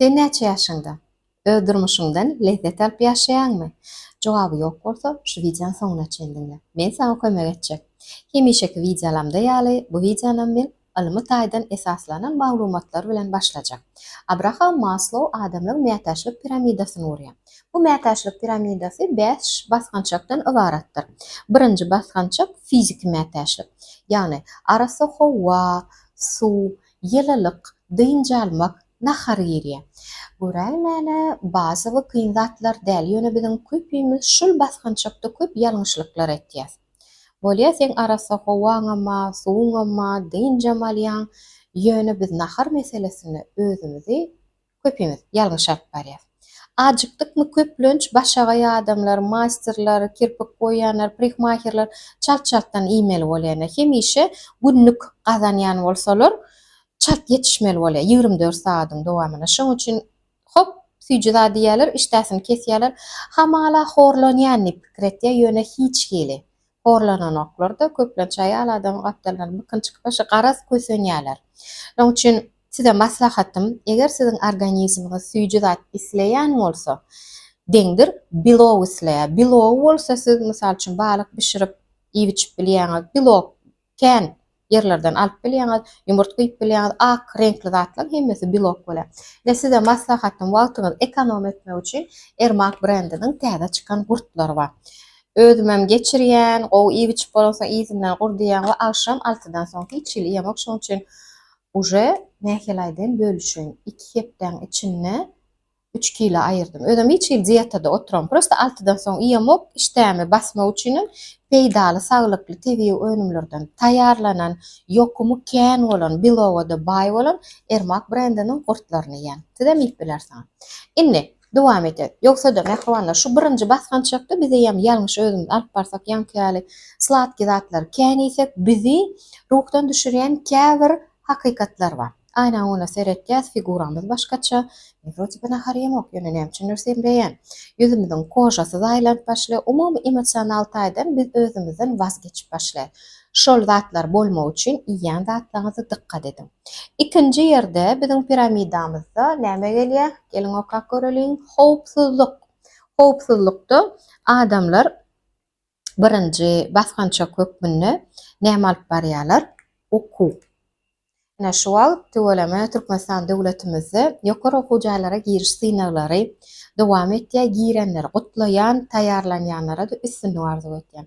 Sen näçe ýaşyňda? Öz durmuşyňdan lezzet alyp ýaşaýaňmy? Jogaby ýok bolsa, şu wideony soňuna çen diňle. Men saňa kömek etjek. Hemişeki wideolamda ýaly, bu wideonam men ylmy taýdan esaslanan maglumatlar bilen başlajak. Abraham Maslow adamlar mätäçlik piramidasyny gurýar. Bu mätäçlik piramidasy bäş basgançakdan ybaratdyr. Birinji basgançak fiziki mätäçlik. Ýagny, arassa howa, suw, ýylylyk, dynç almak, nahar girýär. Göräýmäne, bazy bu kyn zatlar däl, ýöne biziň köpimiz şul basgançakda köp ýalňyşlyklar etýäs. Bolýa seň arassa howaňama, suwuňama, dynjam alýaň, ýöne biz nahar meselesinde özümizi Köpimiz ýalňyşap barýas. Ajykdykmy köplenç başagaý adamlar, maýsterler, kirpik boýaýanlar, prihmahirler çalt-çaltdan iýmeli bolýanna. Hemişe günlük gazanýan bolsalar çalt ýetişmeli bolýar ýigrimi dört sagadyň dowamyna. Şoň üçin hop süýji zat iýýärler, işdäsini kesýärler. Hamala horlanýan diýip pikir etýär, ýöne hiç hili. horlananoklar-da, köplenç aýal adam gapdaldan bykyn çykyp başga garaz kösenýärler. Şonuň üçin size maslahatym, eger siziň organizmiňiz süýji zat isleýän bolsa, deňdir belok isleýär. Belogy bolsa siz, mysal üçin, balyk bişirip iýip-içip bilýäňiz, belok Kän ýerlerden alyp bilýäňiz, ýumurtga iýip bilýäňiz, ak reňkli zatlaň hemmesi belok bolýar. Ine size maslahatym wagtyňyzy ekonom etmek üçin Ermak brendiniň täze çykan gurtlary bar. Özümem geçirýän, gowy iýip içip bolansoň yzyndan gur diýýän we agşam altydan soň hiç hili iýemok şoň üçin uje nähili aýdaýyn bölüşeýin iki hepdäň içinde Üç kilo aýyrdym. Özem hiç hili dietada oturam. Prosta altydan soň iýemok. Işdämi basmak üçinem peýdaly, saglykly tebigy önümlerden taýýarlanan, ýokumy kän bolan, beloga-da baý bolan Ermak brendiniň gurtlaryny iýen. Sizem iýip bilersiňiz. Indi, dowam edeýin. Ýogsa-da, mähribanlar, şu birinji basgançakda biz eýýäm ýalňyş özümizi alyp barsak, ýaňky ýaly sladki zatlary kän iýsek, bizi ruhdan düşürýän käbir hakykatlar bar. Aýnaň öňüne seretýäs, figuraňyz başgaça. Men wrote be nahar ýemok, ýöne näme üçindir semreýän. Ýüzümiziň kožasy zaýlanyp başlaýar. Umumy emosional taýdan biz özümizden waz geçip başlaýas. Şol zatlar bolmagy üçin iýýän zatlaryňyza dykgat ediň. Ikinji ýerde biziň piramidamyzda näme gelýär? Geliň okap göreliň. Howpsuzlyk. Howpsuzlykda adamlar birinji basgançak hökmünde näme alyp barýarlar? Okuw. Ine, şu wagt tüweleme Türkmenistan döwletimizde ýokary okuw jaýlara giriş synaglary dowam etýär. Girenleri gutlaýan, taýýarlanýanlara-da üstünlik arzuw etýän.